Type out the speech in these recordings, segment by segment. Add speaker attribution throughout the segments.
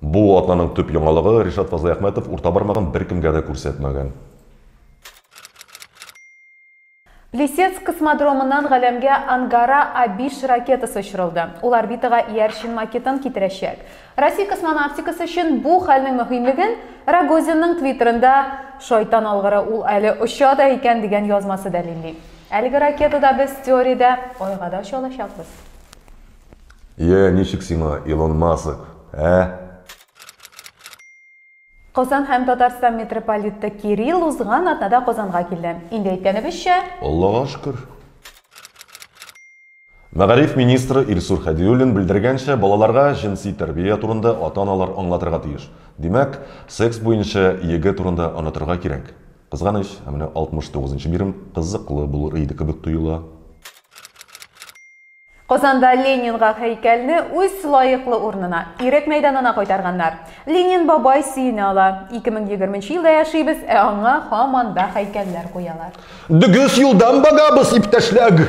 Speaker 1: Бу атнаның төп яңалыгы Ришат Фазлыйәхмәтов урта бармагын беркемгә дә күрсәтмәгән.
Speaker 2: Плесецк космодромыннан галәмгә Ангара А5 ракетасы очырылды. Ул орбитага иярчен макетын китерәчәк. Россия космонавтикасы өчен бу хәлнең мөһимлеген Рогозинның твиттерында Шайтан алгыры, ул әле оча да икән дигән язмасы дәлилли. Әлеге ракетада без теориядә Айга да оча алачакбыз. Йә, ничек
Speaker 1: сиңа, Илон Маск, ә?
Speaker 2: Казан һәм Татарстан митрополиты Кирилл узган атнада Казанга килде. Инде әйткәнебезчә. Аллага шөкер.
Speaker 1: Мәгариф министры Илсур Һәдиуллин белдергәнчә, балаларга җенси тәрбия турында ата-аналар аңлатырга тиеш. Димәк, секс буенча йөге турында онытырга кирәк. Кызганыч, ә менә 69 нчы бирем кызыклы булыр иде кебек тоела.
Speaker 2: Казанда Ленинга һәйкәлне үз лаеклы урынына, Ирек мәйданына кайтарганнар. Ленин бабай сөенә ала. Ике мең егерменче елда яшибез, ә аңа һаман да һәйкәлләр куялар. Дөгес юлдан
Speaker 1: багабыз, иптәшләг!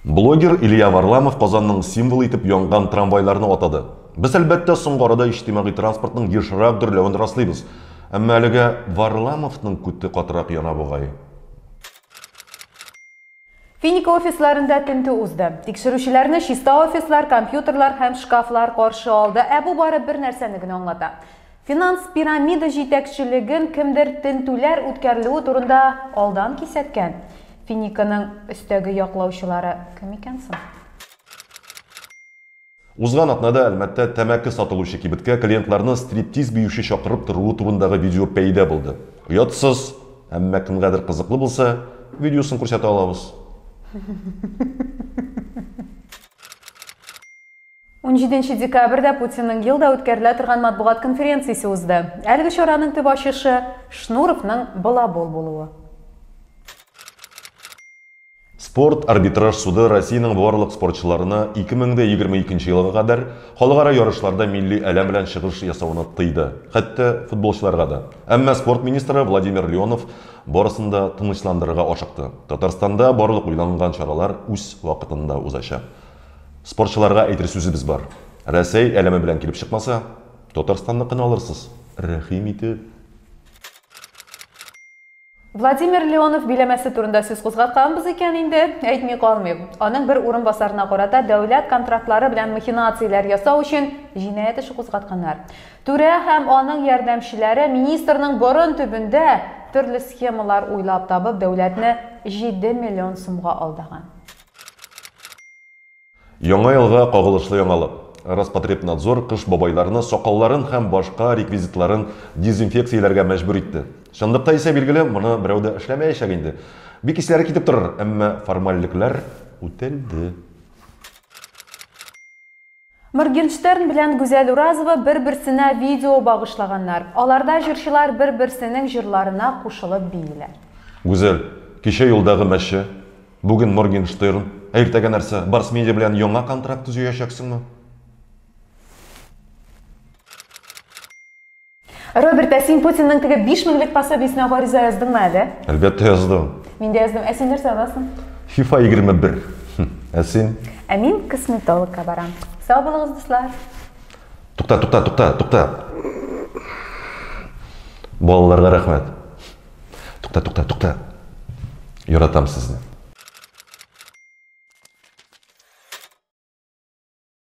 Speaker 1: Блогер Илья Варламов Казанның символы итеп янган трамвайларны атады. Без, әлбәттә, соңгы арада иҗтимагый транспортның ешрак дөрләвен раслыйбыз. Әмма әлегә Варламовның күте катырак яна бугай.
Speaker 2: Финика офисларында тентү узды. Тикшерүчеләрне чиста офислар, компьютерлар һәм шкафлар каршы алды, ә бу бары бер нәрсәне генә аңлата. Финанс пирамида җитәкчелеген кемдер тентүләр үткәрелүе турында алдан кисәткән. Финиканың өстәге яклаучылары кем икән соң?
Speaker 1: Узган атнада Әлмәттә тәмәке сатылучы кибеткә клиентларны стриптиз биюче чакырып торуы турындагы видео пәйда булды. Оятсыз, әмма кемгәдер кызыклы булса, видеосын күрсәтә алабыз.
Speaker 2: Унҗиденче декабрьдә Путинның елда үткәрелә торган матбугат конференциясе узды. Әлеге чараның төп ачышы, Шнуровның балабол булуы.
Speaker 1: Спорт арбитраж суды Россиянең барлык спортчыларына 2022 елга кадәр халыкара ярышларда милли әләм белән чыгыш ясауны тыйды, хәтта футболчыларга да. Әмма спорт министры Владимир Леонов барысын да тынычландырырга ашыкты. Татарстанда барлык уйланган чаралар үз вакытында узачак. Спортчыларга әйтер сүзебез бар, Рәсәй әләме белән килеп чыкмаса, Татарстанныкын алырсыз, рәхим итеп.
Speaker 2: Владимир Леонов биләмәсе турында сүз кузгатканбыз икән инде, әйтми калмыйм. Аның бер урынбасарына карата дәүләт контрактлары белән махинацияләр ясау өчен җинаять эше кузгатканнар. Түрә һәм аның ярдәмчеләре министрның борын төбендә төрле схемалар уйлап табып дәүләтне җиде миллион сумга алдаган.
Speaker 1: Яңа елга кагылышлы яңалык, Роспотребнадзор Кыш Бабайларны сакалларын һәм башка реквизитларын дезинфекцияләргә мәҗбүр итте. Чынлыкта исә, билгеле, моны берәү дә эшләмәячәк инде. Бик исләре китеп торыр, әмма формальлекләр үтәлде.
Speaker 2: Моргенштерн белән Гүзәл Уразова бер-берсенә видео багышлаганнар. Аларда җырчылар бер-берсенең җырларына кушылып бииләр. Гүзәл,
Speaker 1: кичә юлдагы мәче, Бүген Моргенштерн, ә иртәгә нәрсә? Барс медиа белән яңа контракт төзеячәксеңме?
Speaker 2: Роберт, ә син Путинның теге 5 меңлек пособиесенә гариза яздыңмы әле? Әлбәттә яздым.
Speaker 1: Мин дә яздым. Ә син
Speaker 2: нәрсә язасың? FIFA 21. Хм,
Speaker 1: Ә син? Ә мин
Speaker 2: косметологка барам. Сау булыгыз, дуслар. Тукта, тукта, тукта, тукта.
Speaker 1: Балаларга рәхмәт. Тукта, тукта, тукта. Яратам сезне.